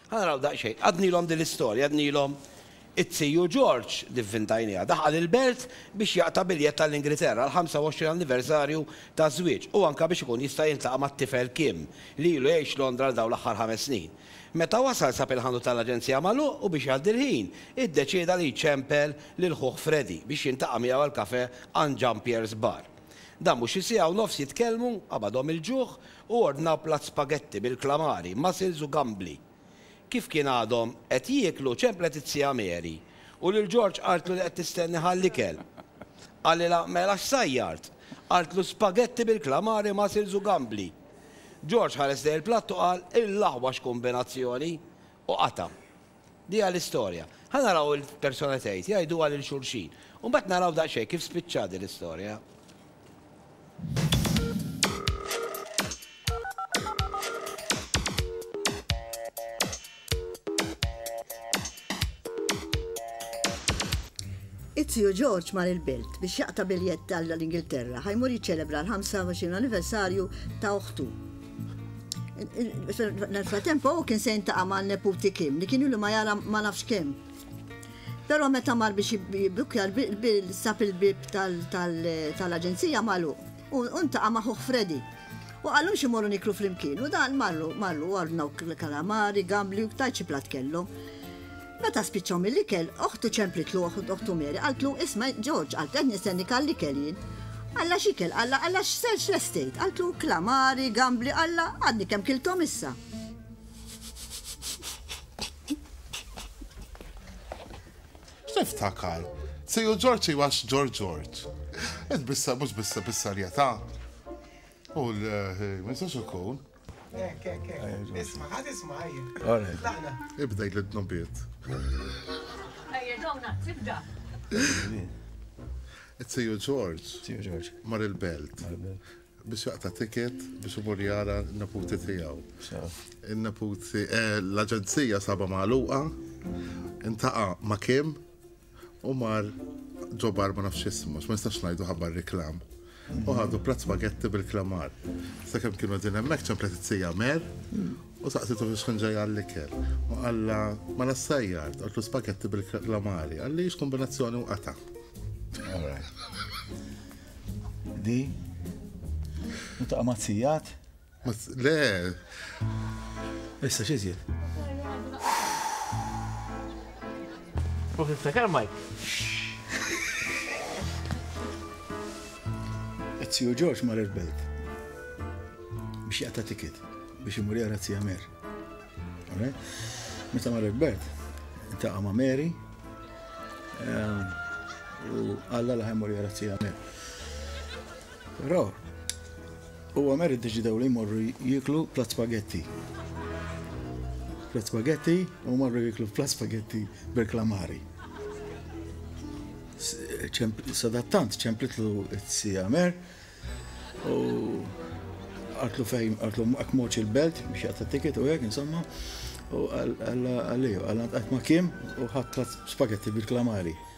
Ħa naraw daqsxejn. Għadnilhom din l-istorja, għadnilhom it-Ziju George li vvintajniha. Daħal il-belt biex jaqta' biljett għall-Ingilterra għall-25 anniversarju taż-żwieġ u anke biex ikun jista' jiltaqa' mat-tifel Kim li ilu jgħix Londra għal dawn l-aħħar ħames snin. Meta wasal sab il-ħanut tal-aġenzija magħluq u biex jgħaddi l-ħin, iddeċieda li jċempel lil ħuh Freddie biex jiltaqa' miegħu għall-kafè għand Jean-Pierre's Bar. Dan mhux xi siegħa u nofs jitkellmu, qabadhom il-ġuħ, Hu ordna platt spaghetti bil-klamari, mussels u gambli. Kif kien għadhom qed jieklu, ċemplet iz-zija Mary u lil George qaltlu li qed tistenni ghall-ikel. Qalilha, Mela x'sajjart? Qaltlu, Spaghetti bil-klamari, mussels u gambli. George ħares lejn il-platt u qal, Ill'aħwa x'kumbinazzjoni! U qata'. Dieha l-istorja. Ħa naraw il-persuna tgħid, jgħiduha lil xulxin. U mbagħad naraw daqsxejn kif spiċċat din l-istorja. It-tiju George mar il-belt biex jaqta' biljett għall-Ingilterra, ħa jmur jiċċelebra l-25 anniversarju ta' oħtu. Nel-fratemp u kien se jintaqa' ma' neputi Kim li kienu li ma jara ma nafx kemm. Però meta mar biex jibbukja l-bil sab il-bib tal-aġenzija magħluq u ntaqa' ma' ħuh Freddy. U qalu xi morru niklu flimkien u dan marru marru ordnaw kalamari, gambli u tajt xi platt kellhom. Meta spiċċaw mill-ikel, oħtu ċemplitlu, oħtu Mary qaltlu, Isma', Ġorġ, qaltlu, qed nistennik għall-ikel jien. Alla x'ikel? Alla, alla x'selġ lestejt? Qaltlu, Klamari, gambli, alla, għadni kemm kilthom issa. niftakar. Sejju Ġorġ jwax Ġorġ Ġorġ. Ed bissa, mux bissa bissa rjeta. U l-minsax eh, ikun. Ek, ek, ek. Isma, għad isma, għajja. Għara. Laħna. Ibda jgħid l-tnobiet. Għajja, dawna, tibda. It-siju George. Siju George. Mar il-belt. Biex jaqta tiket biex umur jara n-naputi tijaw. Il-naputi, eh, l-agenzija saba maħluqa, intaqa ma kim, U mar ġobar ma nafx ismu, ma nistax ngħidu ħabbar reklam. U ħadu platt spagetti bil-klamar. Sakemm kienu din hemmhekk ċemplet it-sija mer u saqsitu biex kien ġej għall-ikel. U qalla ma nassajjar, qoltlu spagetti bil-klamari. Għalli x'kombinazzjoni u qata. Di, u ta' mazzijat? Le. Issa xizjed. U tiftakar Mike? Etziju Ġorġ mar il-belt biex jaqta tikit biex imur jara tzija Mer. Meta mar il-belt, intaqa ma' Mary ehm, u għalla laħem mur jara tzija Mer. Però U Amer iddeċidew li jmorru jieklu platt spaghetti. Platt spaghetti u marru jieklu platt spaghetti bil-klamari. Sadattant ċemplitlu t-si Amer u għartlu fejn, għartlu għak moċ il-belt biex jgħata tiket u għek, insomma, u għalli, għallant għat ma kim u ħat spaghetti bil-klamari.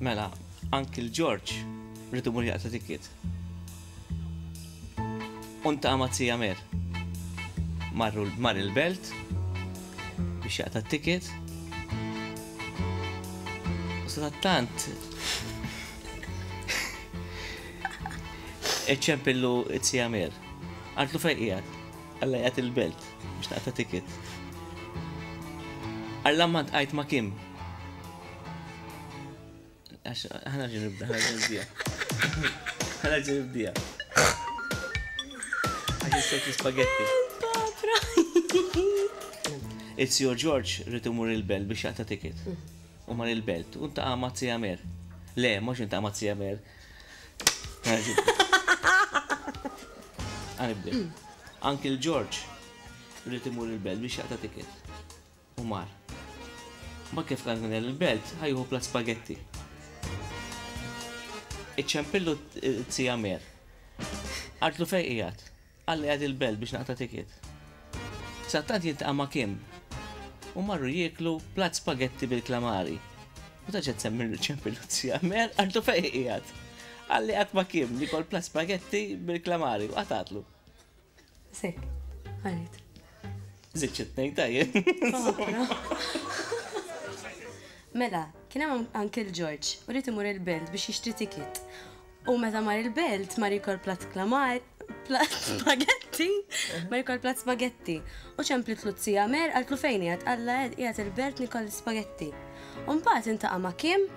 Mela, anki l-Ġorġ rridu mur jaqta tikkiet. Unta għamazzija mer. Marru mar il-belt biex jaqta tikkiet. U sa tant iċċempillu it-sija mer. Għadlu fejqijat. Alla jgħat il-belt, biex naqta ticket. Alla ma tqajt ma kim. Għax, ħana ġin nibda, ħana ġin nibdija. ħana ġin nibdija. Għax jistok l-spaghetti. It's your George rrit imur il-belt biex jaqta ticket. U mar il-belt, u ta' għamat si għamer. Le, mux inta għamat si għamer. Għanibdi. Uncle George rrit imur il-belt biex jaqta tiket. U mar. Ma kif kan kien il-belt, ħajħu pla spaghetti. Iċċempillu t-tija mer. Artlu fej ijat. Alla jgħid il-belt biex naqta' ticket. Sattant jiltaqa' ma' Kim u marru jieklu platt spagetti bil-klamari. U ta' x'qed tsemmi r-riċepi Luzja? Mer, għartu fejn hi qiegħed. Alla jgħadd ma' Kim li kol platt spagetti bil-klamari u qatgħatlu. Biss hekk, qalet. Żidt xi tnejn ta' jien, insomma. Mela, kien hemm Uncle George u ried imur il-belt biex jixtri ticket. U meta mar il-belt, mar jikol plat klamar, plat spagetti, mar jikol plat spagetti. U ċemplit l-uzzija mer, għaltlu fejni għad, għalla għed jgħat il-belt nikol spagetti. Umbat intaqa ma kim,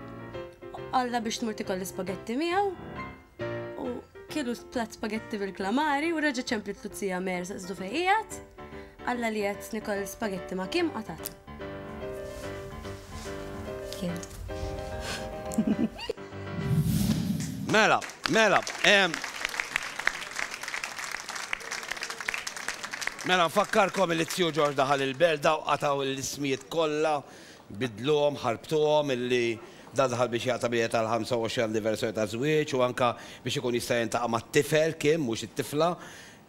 għalla biex tmur tikol spagetti miegħu, u kielu plat spagetti bil-klamari, u reġa ċemplit l-uzzija mer, saqsdu fejn jgħat, għalla li jgħat nikol spagetti ma kim, għatat. Mela, mela, Mela nfakkarkom li t-tiju Ġorġ daħal il-belda u qataw l-ismijiet kollha, bidluhom, ħarbtuhom illi da daħal biex jaqta' biljet għal 25 anniversarju ta' żwieġ u anka biex ikun jista' jintaqa' mat-tifel Kim mhux it-tifla.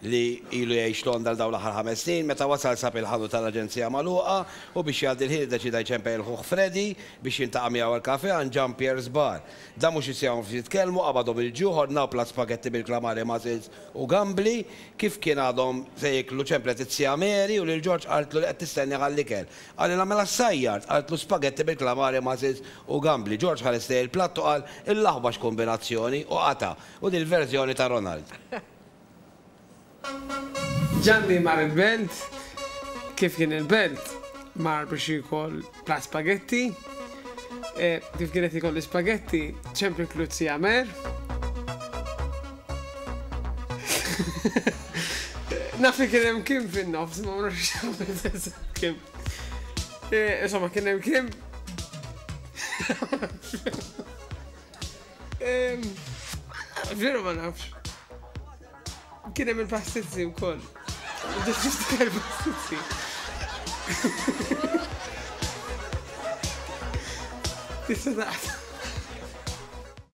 li ilu jgħix Londra għal dawn l-aħħar ħames snin, meta wasal sab il-ħanut tal-aġenzija magħluqa u biex jgħaddi l-ħin iddeċieda jċempel lil ħuh Freddy biex jiltaqa' miegħu għall-kafè għand Jean Pierre's Bar. Dan mhux issejjaħ nofs jitkellmu, qabadhom il-ġuħ, ordnaw platt spagetti bil-klamari mussels u gambli. Kif kien għadhom se jieklu ċemplet it-Sija Mary u lil George qaltlu li qed tistennieh għall-ikel. Qalilha mela ssajjart, qaltlu spagetti bil-klamari mussels u gambli. George ħares lejn il-platt u qal, Il-laħba x'kumbinazzjoni! u qata'. U din il-verżjoni ta' Ronald. Ġanni mar il-belt, kif kien il-belt, mar biex jiekol platt spaghetti. E, kif kien qed jiekol l-ispaghetti, ċempli kluzzi għamer. Nafi kien hemm kim fin-nofs, ma nafx kim. E, insomma, kien hemm kim. Veru ma nafx. Kien hemm il-pastizzi wkoll. Ġistikar pastizzi. Tista'